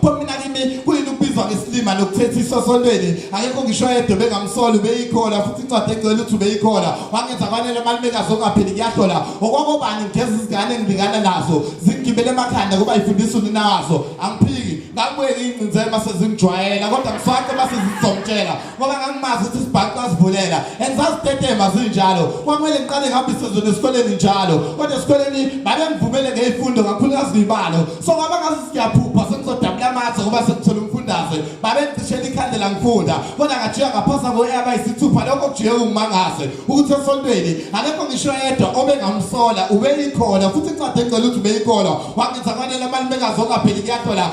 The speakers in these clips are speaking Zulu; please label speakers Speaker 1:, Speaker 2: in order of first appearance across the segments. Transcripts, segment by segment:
Speaker 1: pho mina kimi kuyini ukubizwa ngesilima nokuthethiswa sontweni akekho ngisho yedwa bengamsoli ubeyikhola futhi incwadi egcwele ukuthi ubeyikhola wangenza kwanele amalumekazi ongapheli kuyahlola okwakobani ngigeza izingane engilingana nazo zingigibele emakhanda kuba yifundisa unina wazo angiphiki ngakubuyeka ingcinzela uma sezingijwayela kodwa ngiswace uma sezizomtshela ngoba ngangimazi ukuthi isibhaxu asivulela and sasitetema zinjalo kwakumele ngiqale ngihambise zona esikoleni njalo kodwa esikoleni babengivumele ngey'fundo kakhulukazi ngibalo so kwaba ngazi siyaphupha sengizodabula amathe ngoba sengithole umfundaze babengicishela ikhandela ngifunda kodwa ngajika ngaphasa ngo-air bayisithupha lokho kujike kungimangaze ukuthi esontweni akekho ngisho yedwa obengamsola ubeyikhona futhi incwadi engicela ukuthi ubeyikhona wangenza kwanele amalumekazi ongapheli kuyahlola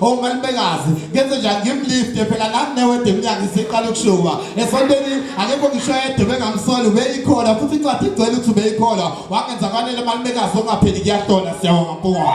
Speaker 1: ongalibekazi ngenze njani ngimlifte phela nami newede emnyango isiqala ukushuba esontweni akekho ngisho yedwa bengamsoli ubeyikhona futhi incwadi igcwele ukuthi ubeyikhona wangenza kwanele malibekazi ongapheli kuyahlola siyabonga mpunga